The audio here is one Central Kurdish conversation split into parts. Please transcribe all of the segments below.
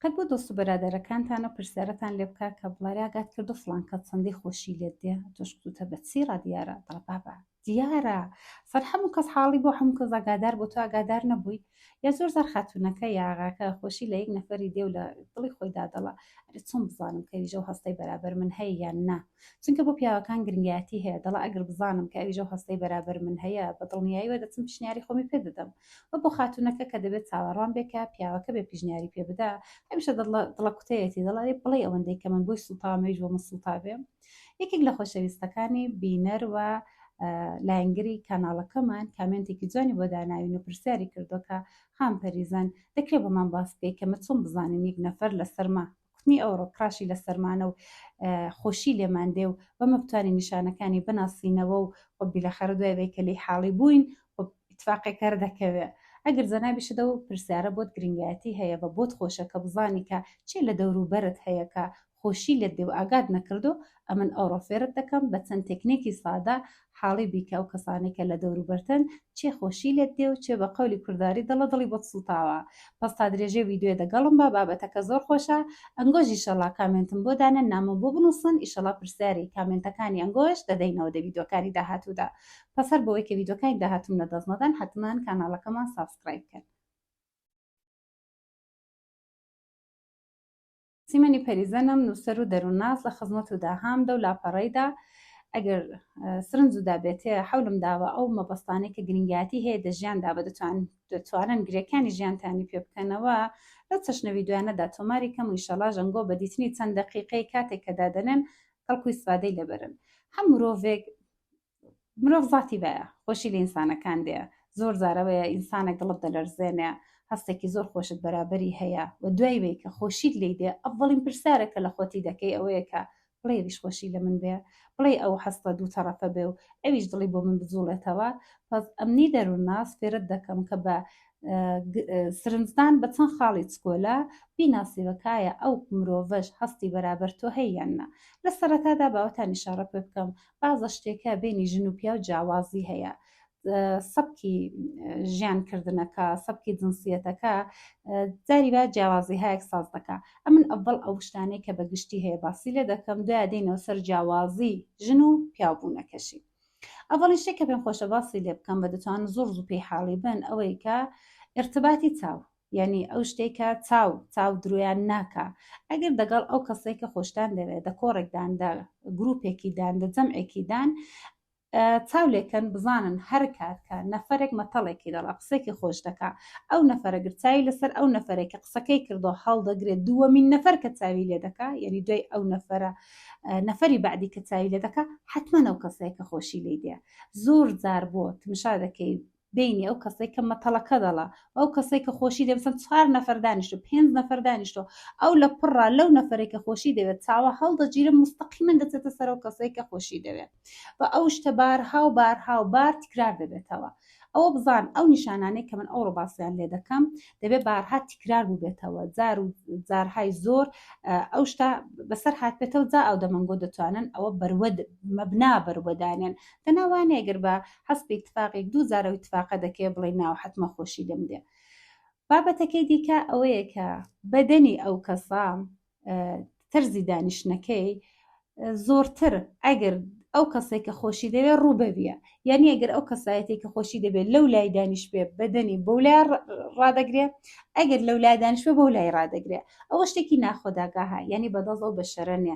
قەت بۆ دۆست و بەرادەرەکانتان و پرسیارتان لێ بکە کە بڵێ ئاگات کردو فڵان کەس چەندی خۆشی لێت دێ تۆش کوتوتە بە چی ڕا دیارە دەڵێ بابە دیارە سەر هەموو کەس حاڵی بۆ هەموو کەس ئاگادار بۆ تۆ ئاگادار نەبووی یا زۆر زار خاتوونەکە یا ئاغاکە خۆشی لە یەک نەفەری دێ و لە دڵی خۆیدا دەڵێ ئەرێ چۆن بزانم کە ویژە و هەستەی بەرابەر من هەیە یان نا چونکە بۆ پیاوەکان گرنگایەتی هەیە، دەڵێ ئەگەر بزانم کە ئەویش ئەو هەستەی بەرابەر من هەیە، بە دڵنیاییەوە دەچم پیشنیاری خۆمی پێ دەدەم. وە بۆ خاتوونەکە کە دەبێ چاوەڕوان بێ کە پیاوەکە بێ پیشنیاری پێ بدا، هەمیشە دڵەکوتەیەتی، دەڵێ بڵێی ئەوەندەی کە من بۆی سووتاوم ئەویش بۆ من سووتا بێ. یەکێک لە خۆشەویستەکانی بینەر و لایەنگری کاناڵەکەمان کامێنتێکی جوانی بۆ داناوین و پرسیاری کردووە کە، خان پەریزان، دەکرێ بۆمان باس بکەی کە من چۆن بزانم یەک نەفەر لەسەرما کوتنی ئەو ڕووکڕاشی لە سەرمانە و خۆشی لێمان دێ و بەمە بتوانین نیشانەکانی بناسینەوە و خۆ بیلەخەرە دوای ئەوەی کە لێی حاڵی بووین خۆ ئیتفاقێک هەر دەکەوێ ئەگەر جەنابیشت ئەو پرسیارە بۆت گرینگایەتی هەیە بە بۆت خۆشە کە بزانی کە چێ لە دەوروبەرت هەیە کە خۆشی لێت دێ و ئاگات نەکردووە ئەمن ئەوڕۆ فێرت دەکەم بە چەند تێکنێکی سادە حاڵی بیکە ئەو کەسانەی کە لە دەوروبەرتن چێ خۆشی لێت دێ و چێ بە قەولی کورداری دڵە دڵی بۆت سووتاوە پەس تا درێژەی ویدیۆ دەگەڵم بە بابەتەکە زۆر خۆشە ئەنگۆش ئیشەڵا کامێنتم بۆ دانێن نامم بۆ بنووسن ئیشەڵا پرسیاری کامێنتەکانی ئەنگۆش دەدەینەوە دە ویدیۆکانی داهاتوودا پەس هەر بۆی کە ویدیۆکانی داهاتووم لە دەست نەدەن حەتمان کاناڵەکەمان سابسکرایب کەن سیمەنی پەریزەنم نووسەر و دەروونناس لە خزمەت و داهام دەو لاپەڕەیدا ئەگەر سرنج و دابێتێ حولم داوە ئەو مەبەستانەی کە گرنگیاتی هەیە دە ژیاندا بە دەتوان دەتوانن گرێکانی ژیانتانی پێ بکەنەوە لەو چەشنەوی دوایانەدا تۆماری کەم و ئیشەڵا ژەنگۆ بە دیتنی چەند دەقیقەی کاتێک کە دادەنێن کەڵکوی سفادەی لەبەرن هەم مرۆڤێک مرۆڤ زاتی بەیە خۆشی لە ئینسانەکان دێ زۆر زارەوەیە ئینسانە گڵت دەلەرزێنێ هەستێکی زۆر خۆشت بەرابەری هەیە و دوای وی کە خۆشیت لی دێ ئەڤڵین پرسیارە کە لە خۆتی دەکەی ئەوەیە کە بڵێ ئەویش خۆشی لە من بێ بڵێ ئەو هەستە دوو تەڕەفە بێ و ئەویش دڵی بۆ من بجوڵێتەوە پس ئەمنی دەروونناس فێرت دەکەم کە بە سرنجدان بە چەند خاڵی چکۆلە بیناسیوەکایە ئەو مرۆڤش هەستی بەرابەر تۆ هەیە یان نا لە سەرەتادا باوەتانی شارە پێ بکەم بازە شتێکە بینی ژن و پیاو جیاوازی هەیە سەبکی ژیان کردنەکە سەبکی جنسیەتەکە جاری با جیاوازی هایەک ساز دەکە ئەمن ئەڤڵ ئەو شتانەی کە بە گشتی هەیە باسی لێ دەکەم دوای دێنەوە سەر جیاوازی ژن و پیاوبوونەکەشی ئەڤڵی شتێک کە پێم خۆشە باسی لێ بکەم بە دەتوان زۆر زوو پێی حاڵی بن ئەوەی کە ارتباتی چاو یەعنی ئەو شتەی کە چاو چاو درۆیان ناکا ئەگەر دەگەڵ ئەو کەسەی کە خۆشتان دەوێت دە کۆڕێکدان دە گروپێکیدان دە جەمعێکیدان چاو لێکەن بزانن هەر کات کە نەفرێک مەتەڵێکی دەڵە قسێکی خۆش دەکا ئەو نەفرە گرچاوی لەسەر ئەو نەفرێک کە قسەکەی کردو هەڵدەگرێت دووەمین نەفر کە چاوی لێ دەکا یعنی دوای ئەو نەفرە نەفری بعدی کە چاوی لێ دەکا حتمما ئەو کەسەیە کە خۆشی لی دێ زۆر زار بۆ تمشا دەکەی بینی ئەو کەسەی کە مەتەڵەکە دەڵا و ئەو کەسەی کە خۆشی دەوێت مثلا چوار نەفەر دانیشتو پێنج نەفەر دانیشتو ئەو لە پڕا لەو نەفەرێک کە خۆشی دەوێت چاوە هەڵدەگیرێ مستەقیمەن دەچێتە سەر ئەو کەسەی کە خۆشی دەوێت و ئەو شتە بارها و بارها و بار تکرار دەبێتەوە ئەوە بزان ئەو نیشانانەی کە من ئەوڕۆ باسیان لێ دەکەم دەبێ بارها تکرار بووبێتەوە جار و جارهای زۆر ئەو شتا بەسەر هاتبێتەوە جا ئەو دەمەنگۆ دەتوانن ئەوە بەروەد مەبنا بەروەدانێن دەناوانەیەگەر بە حەز بە ئیتفاقێک دوو جار ئەو ئیتفاقە دەکەیە بڵێی ناو حەتمە خۆشی لێم دێ بابەتەکەی دیکە ئەوەیە کە بەدەنی ئەو کەسە تەرزی دانیشتنەکەی زۆرتر ئەگەر ئەو کەسێک کە خۆشی دەوێت ڕووبەویە یعنی ئەگەر ئەو کەسایەتی کە خۆشی دەبێت لەو لای دانیش بێ بەدەنی بۆ لای ڕدەگرێ ئەگەر لەو لای دانیشە بۆ لای ڕدەگرێ ئەوە شتێکی ناخۆداگاها یعنی بەدەڵەوە بە شەرەنێ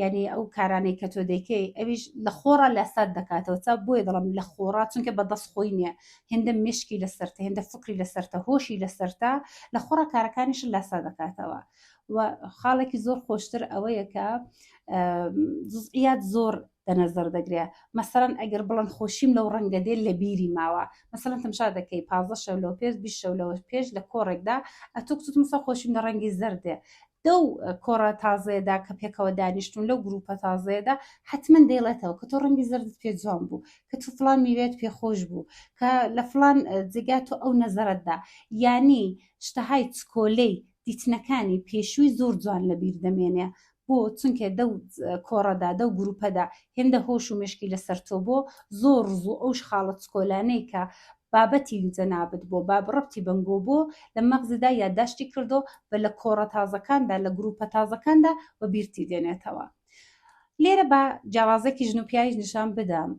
یعنی ئەو کارانەی کە تۆ دەیکەی ئەویش لە خۆڕا لە سات دەکاتەوە تا بۆیە دەڵم لە خۆڕا چونکە بە دەست خۆی نییە هێندە مشکی لە سەرتە هێندە فکری لە سەرتە هۆشی لە سەرتە لە خۆڕا کارەکانیش لاسا دەکاتەوە و خاڵێکی زۆر خۆشتر ئەوەیە کە جزئیات زۆر دەنەزەر دەگرێ مەسەرەن ئەگەر بڵند خۆشیم لەو ڕەنگە دێت لە بیری ماوە مەسەن تەمشا دەکەی پازە شەو لەو پێش بیش شەو لەوە پێش لە کۆڕێکدا ئەتوکتمسە خۆشیم لە ڕەنگی زەردێ لەو کۆڕە تازەیەدا کە پێکەوە دانیشتون لەو گروپە تازەیەدا حەتمەن دەیڵێتەوە کە تۆ ڕەنگی زەردت پێ جوان بوو کە تۆ فڵان میوەیەت پێ خۆش بوو کە لە فڵان جێگا تۆ ئەو نەزەرەتدا یانی شتەهای چکۆلەی دیتنەکانی پێشووی زۆر جوان لەبیر دەمێنێ بۆ چونکە دەو کۆڕەدا دەو گروپەدا هێندە هۆش و مشکی لەسەر تۆ بۆ زۆر ڕزوو ئەوش خاڵە چکۆلانەی کە بابەتی جەنابت بۆ باب ڕەبتی بەنگۆ بۆ لە مەغزیدا یادداشتی کردۆ و لە کۆڕە تازەکاندا لە گرووپە تازەکاندا وە بیرتی دێنێتەوە. لێرە با جیاوازێکی ژن و پیاویش نیشان بدەم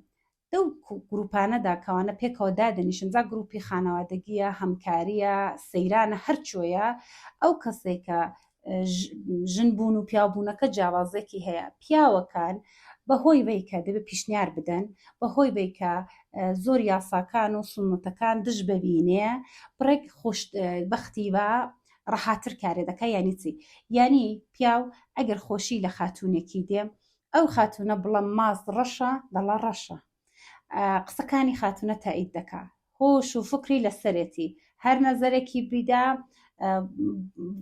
لەو گرووپانەدا کەوانە پێکەوە دادەنیشن جا گرووپی خانەوادەگییە، هەمکارییە، سەیرانە هەرچۆیە ئەو کەسێکە ژن بوون و پیاوبوونەکە جیاوازێکی هەیە پیاوەکان بەهۆی وەیکە دەبێ پیشنیار بدەن بەهۆی وەیکە زۆر یاساکان و سنتەکان دژ ببینێ بڕێک خوش بەختی بە ڕەحاتر کارێ دەکە یانی چی یانی پیاو ئەگەر خۆشی لە خاتونێکی دێ ئەو خاتونە بڵم ماست ڕەشە دەڵە ڕەشە قسەکانی خاتونە تایید دەکا هۆش و فکری لەسەرێتی هەر نەزەرێکی بیدا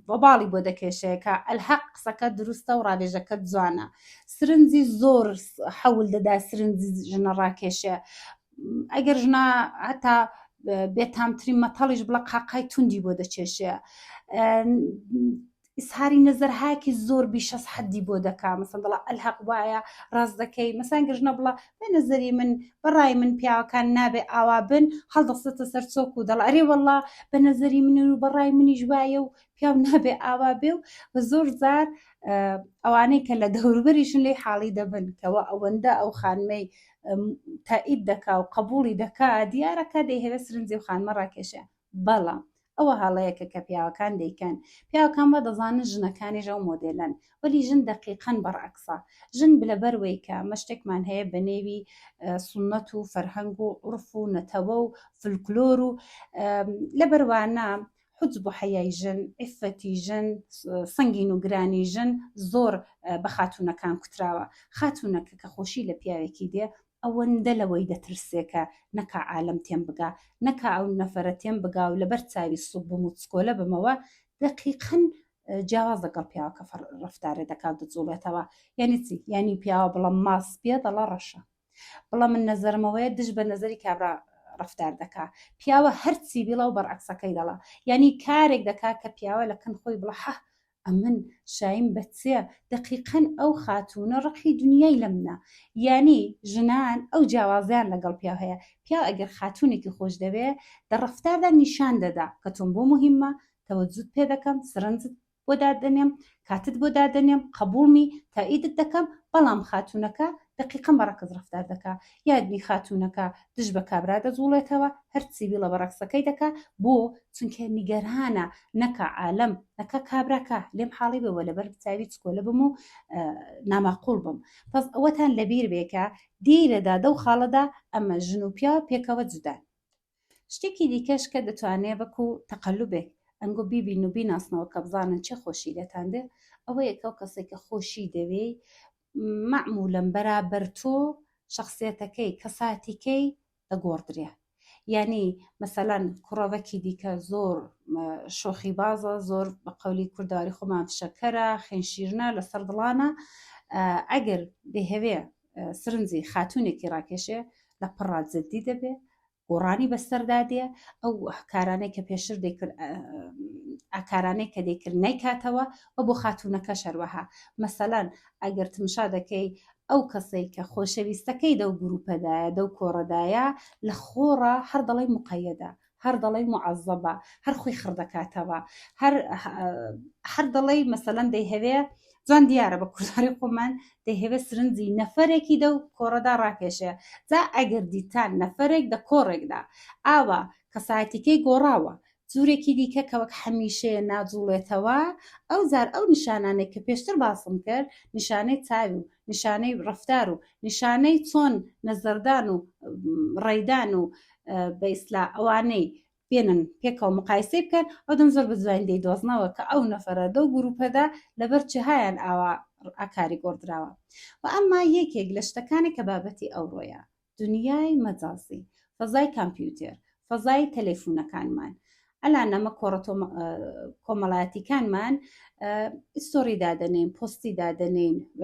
بەباڵی بۆ دەکێشەیەکە ئەلحەق قسەکە دروستە و ڕاوێژەکە جوانە سرنجی زۆر حەول دەدا سرنجی ژنە ڕاکێشێ ئەگەر ژنا هەتا بێتامترین مەتەڵیش بڵە قاقای توندی بۆ دەچێشێ ئیسهاری نەزەرهایەکی زۆر بیشەس حەدی بۆ دەکا مەسەن دەڵا ئەلهەق وایە ڕاست دەکەی مەسان گەژنە بڵە بە نەزەری من بەڕای من پیاوەکان نابێ ئاوا بن هەڵدەستێتە سەر چۆک و دەڵ ئەرێ وەڵا بە نەزەری من و بەڕای منیش وایە و پیاو نابێ ئاوا بێ و بە زۆر زار ئەوانەی کە لە دەوروبەریشن لی حاڵی دەبن کەەوە ئەوەندە ئەو خانمەی تائید دەکا و قبولی دەکا دیارەکە دەیهوێ سرنجی و خانمە ڕاکێشە بەڵام ئەوە هەڵەیەکە کە پیاوەکان دەیکەن، پیاوەکان وا دەزانن ژنەکانیش ئەو مۆدێلەن، وەلی ژن دەقیقەن بەڕعکسە، ژن لەبەروەی کە ئەمە شتێکمان هەیە بە نێوی سوننەت و فەرهەنگ و عورف و نەتەوە و فلکلۆر و لەبەر وانە حجب و حەیای ژن، عیفەتی ژن، سنگین و گرانی ژن زۆر بە خاتوونەکان کوتراوە، خاتوونەکە کە خۆشی لە پیاوێکی دێ ئەوەندە لەوەی دەترسێ کە نەکا عالەم تێم بگا، نەکا ئەو نەفەرە تێم بگا و لەبەر چاوی سووک بم و چکۆلە بمەوە، دەقیقەن جیاوازە گەڵ پیاوە کە ڕەفتارێ دەکا و دەجووڵێتەوە. یانی چی؟ یانی پیاوە بڵە ماڵ سپییە دەڵە ڕەشە. بڵە من نەزەرمەوەیە دژ بە نەزەری کابرا ڕەفتار دەکا. پیاوە هەرچی بیڵە و بەرعەکسەکەی دەڵە. یانی کارێک دەکا کە پیاوە لە کن خۆی بڵە هه! ئەمن شایم بە چێ دەقیقەن ئەو خاتوونە ڕقی دنیای لە منە یانی ژنان ئەو جیاوازیان لەگەڵ پیاو هەیە پیاو ئەگەر خاتوونێکی خۆش دەوێ دە ڕەفتاردا نیشان دەدا کە تۆم بۆ موهیممە تەوەجوت پێ دەکەم سرنجت بۆ دادەنێم کاتت بۆ دادەنێم قەبووڵمی تائیدت دەکەم بەڵام خاتوونەکە دەقیقەن بە ڕەکس ڕەفتار دەکا یادنی خاتوونەکە دژ بە کابرا دەجوڵێتەوە هەر سیڤیلە بە ڕەکسەکەی دەکا بۆ چونکە نیگەرانە نەکا عالەم نەکا کابرا کا لێم حاڵی بەوە لەبەر چاوی چکۆلە بم و ناماقول بم پس ئەوەتان لەبیر بێکە دیرەدا دەو خاڵەدا ئەمە ژن و پیاوە پێکەوە جودان شتێکی دیکەش کە دەتوانێ بەکو تەقلبێک ئەنگۆ بیبین و بیناسنەوە کە بزانن چێ خۆشی لێتان دێ ئەوەیە کەو کەسێک کە خۆشی دەوێی مەعمولەن بەرابەر تۆ شەخسیەتەکەی کەساتی کەی دەگۆڕدرێ یانی مەسەلەن کوڕەوەکی دیکە زۆر شۆخی بازە زۆر بە قەولی کورداری خۆمان فشەکەرە خێنشیرنە لەسەر دڵانە ئەگەر دەهەوێ سرنجی خاتونێکی ڕاکێشێ لە پڕا جددی دەبێ گۆڕانی بەسەردا دێ ئەو کارانەی کە پێشتر دەیکرد ئاکارانەی کە دەیکرد نەیکاتەوە و بۆ خاتوونەکە شەروەها مەسەلەن ئەگەر تمشا دەکەی ئەو کەسەی کە خۆشەویستەکەی دەو گروپەدایە دەو کۆڕەدایە لە خۆڕە هەر دەڵی مقەیەدە هەر دەڵی معەزەبە هەر خۆی خڕدەکاتەوە هەر دەڵی مەسەلەن دەیهەوێ جوان دیارە بە کورداری خۆمان دەیهەوێت سرنجی نەفەرێکی دەو کۆڕەدا ڕاکێشێ جا ئەگەر دیتان نەفەرێک دە کۆڕێکدا ئاوا کەسایەتیکەی گۆڕاوە جورێکی دیکە کە وەک حەمیشەیە ناجوڵێتەوە ئەو زار ئەو نیشانانێک کە پێشتر باسم کرد نیشانەی چاوی و نیشانەی ڕفتار و نیشانەی چۆن نەزەردان و ڕێدان و بە ئیسلا ئەوانەی بێنن پێکەوە مقایسەی بکەن ئەودەم زۆر بەجوانی دەیدۆزنەوە کە ئەو نەفەرە لەو گروپەدا لەبەر چهیان ئاوا ئاکاری گۆڕدراوە و ئەمما یەکێک لە شتەکانی کە بابەتی ئەوڕۆیە دنیای مەجازی فەزای کامپیوتێر فەزای تەلەیفونەکانمان ئەلا نەمە کۆڕەتۆ کۆمەڵایەتیکانمان ئیستۆری دادەنین پۆستی دادەنین و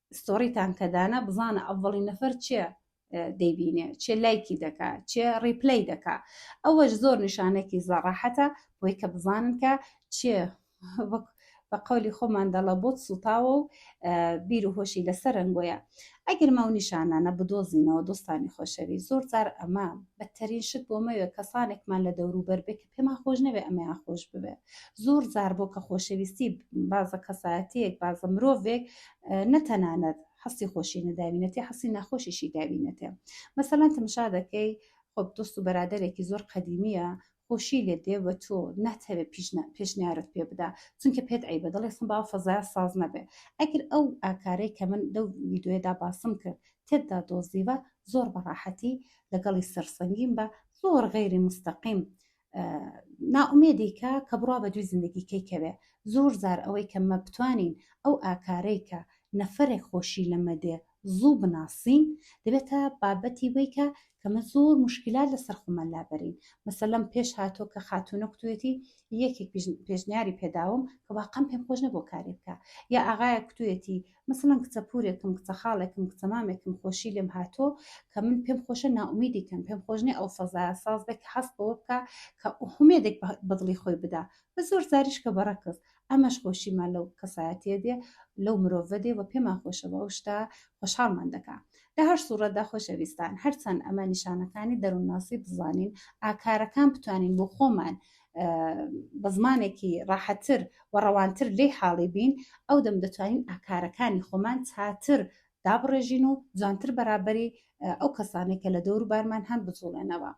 ستۆری تان کە دانا بزانە ئەڤڵی نەفەر چێ دەیبینێ چێ لایکی دەکا چێ ڕیپلەی دەکا ئەوەش زۆر نیشانێکی زەڕاحەتە بۆی کە بزانن کە چێ وەک بە قولی خۆمان دەڵە بۆت سوتاوە و بیر و هۆشی لەسەر رنگۆیە ئەگەر ماو نیشانانە بدۆزینەوە دۆستانی خۆشەوی زۆر جار ئەمە بەتەرین شت بۆ مەوێ کەسانێکمان لە دەوروبەر بێت پێمان خۆش نەبێ ئەمەیان خۆش ببێ زۆر زار بۆ کە خۆشەویستی بازە کەسایەتەیەک بازە مرۆڤێک نەتەنانەت حەستی خۆشی نەداوینەتی حەسی ناخۆشیشی داوینەتێ مەسەلەن تمشا دەکەی خۆ دۆست و بەرادەرێکی زۆر قەدیمیە خۆشی لێ دێ بە تۆ ناتەوێ پێشنیارت پێ بدا چونکە پێت ئەی بە دڵێسم با فەزای ساز نەبێ ئەگەر ئەو ئاکارەی کە من لەو ویددیوێدا باسم کرد تێتدا دۆزیوە زۆر بەڕاحەتی لەگەڵی سەرسەنگیم بە زۆر غەیری مستەقیم نائومێدی کە کە بڕا بە دوی زندگیکەی کەوێ زۆر زار ئەوەی کە مە بتوانین ئەو ئاکارەی کە نەفرێک خۆشی لەمە دێ زوو بناسین دەبێتە بابەتی ویکە کەمە زۆر مشکلات لەسەر خۆمان لابەرین مەسەلەم پێش هاتۆ کە خاتونە کوتێتی یەکێک پێشنیاری پێداوم کە واقعم پێم خۆش نەبوو کاری بکە یا ئاغایە کوتێتی مەسەڵەن کچە پورێکم، کچە خاڵێکم، کچە مامێکم خۆشی لێم هاتووە کە من پێم خۆشە نائومیدی کەم، پێم خۆش نیە ئەو فەزایە ساز بێ کە هەست بەوە بکا کە هومێدێک بە دڵی خۆی بدا و زۆر جاریش کە بە ڕەکز. ئەمەش خۆشیمان لەو کەسایەتیە دێ، لەو مرۆڤە دێ و پێمان خۆشە بە ئەو شتە خۆشحاڵمان دەکا. لە هەر سوڕەتدا خۆشەویستان هەرچەند ئەمە نیشانەکانی دەروونناسی بزانین، ئاکارەکان بتوانین بۆ خۆمان بە زمانێکی ڕاحەتر و ڕەوانتر لێ حاڵی بین ئەو دەم دەتوانین ئاکارەکانی خۆمان چاتر دابڕێژین و جوانتر بەرابەری ئەو کەسانێک کە لە دەوروبارمان هەن بجوڵێنەوە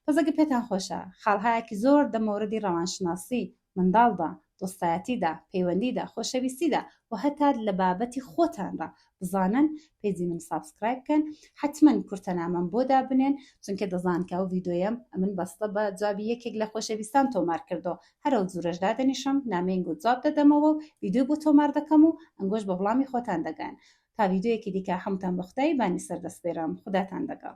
پزەگە پێتان خۆشە خاڵهایەکی زۆر دەمەوردی ڕەوانشناسی منداڵدا دۆستایەتیدا پەیوەندیدا خۆشەویستیدا و هەتا لە بابەتی خۆتانڕ بزانن پێجی من سابسکرایب کەن حتمما کورتە نامەم بۆ دابنێن چونکە دەزان کە ئەو ڤیدۆیەم ئەمن بەستە بە جوابی یەکێک لە خۆشەویستان تۆمار کردەوە هەر ئەو جورەش دادەنیشم نامەین گوت جواب دەدەمەوە و ڤیدۆی بۆ تۆمار دەکەم و ئەنگۆش بە وڵامی خۆتان دەگەن تا ڤیدۆیەکی دیکە حەمتان بە خودای بانی سەر دەسپێرم خوداتان دەگەڵ